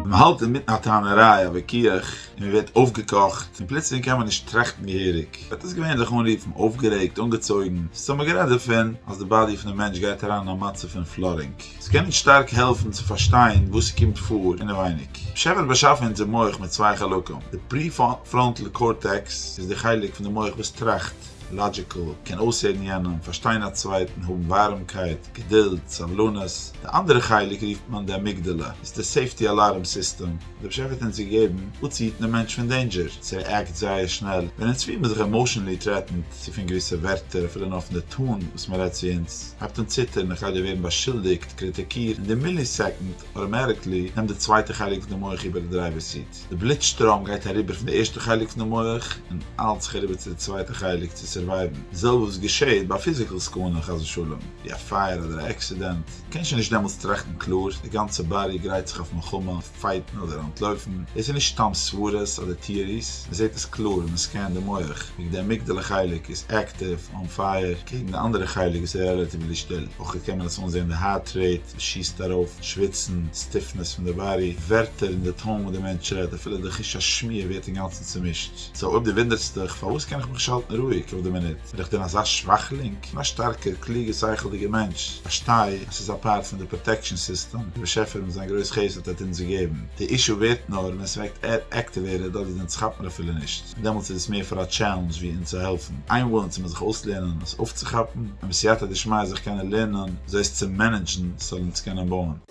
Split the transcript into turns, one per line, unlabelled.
מען האלט אינמיטן א טענה'ריי, א וויכוח, און מען ווערט אויפגעקאכט, און פלוצלינג קען מען נישט טראכטן געהעריג, וועט עס געווענליך אנרופן אויפגערעגט, אנגעצויגן, ס'איז טאמער גערעדט דערפון אז די באדי פונעם מענטש גייט אריין אין א מצב פון פלאדינג. עס קען אונז שטארק העלפן צו פארשטיין וואס ס'קומט פאר אינעווייניג. השי ת האט באשאפן אונזער מח מיט צוויי חלקים, די פרי-פראנטל קארטעקס איז די חלק פון די מח וואס טראכט, לאדזשיקל, קען אויסהערן יענעם, פארשטיין א צווייטן, האבן ווארעמקייט, געדולד, סבלנות, די אנדערע חלק רופט מען די אמיגדאלע, איז די סעיפטי אלארם סיסטעם, דער באשעפער האט אונז געגעבן אפצוהיטן דעם מענטש פון דעינדזשער, ס'רעאקט זייער שנעל ווען אונז פיל מיר זיך עמאושענלי טרעטענד, צו פון געוויסע ווערטער, אפילו נאר פון די טאן וואס מען רעדט צו אונז, הייבט אן ציטערן, איך גיי דא ווערן באשולדיגט, קריטיקירט, אין די מילי סעקאנד, אוטאמעטיקלי, נעמט די צווייטע חלק פון די מח איבער די דרייווער סיט. די בלוט שטראם גייט אריבער פון די ערשטע חלק פון די מח און היילט זיך אריבער צו די צווייטע חלק צו סורווייוון, די זעלבע וואס געשעהט ביי א פיזיקעל סכנה חס ושלום ווי א פייער אדער א עקסידענט, דו קענסט שוין נישט דעמאלטס טראכטן קלאר, די גאנצע באדי גרייט זיך אויף מלחמה, פייטן אדער אנטלויפן, דאס איז נישט סתם סברות אדער טעאריס, מען זעהט עס קלאר ווען מען סקענט די מח, ווי די אמיגדעלע חלק איז עקטיוו, אן פייער, אקעגן די אנדערע חלק וואס איז רעלאטיוולי שטיל, אויך קען מען עס אנזעהן די הארט רעיט. ס'שיסט ארויף שוויצן, סטיפנעס פון די באדי, ווערטער און די טאון וואס די מענטש רעדט, אפילו די חוש השמיעה ווערט אינגאנצן צומישט. סאו אויב דו וואונדערסט דיך פארוואס קען איך מיך נישט האלטן רואיג אויף די מינוט, בין איך דען אזא שוואכלינג? כ'בין א שטארקער, קלוגער, שכל'דיגער מענטש, כ'פארשטיי אז ס'איז א פארט פון די פראטעקשאן סיסטעם וואס די באשעפער מיט זיין גרויס חסד האט אונז געגעבן. די אישו ווערט נאר ווען ס'וועקט עקטיוועטעד אדער די נץ כאפט מיר אפילו נישט. דעמאלטס איז עס מער פאר א טשעלענדזש ווי אונז צו העלפן איינוואוינען צו מען זיך אויסלערנען עס אויפצוכאפן און בסייעתא דשמיא זיך קענען לערנען זיי עס צו מענעדזשן ס'זאל אונז קענען בויען.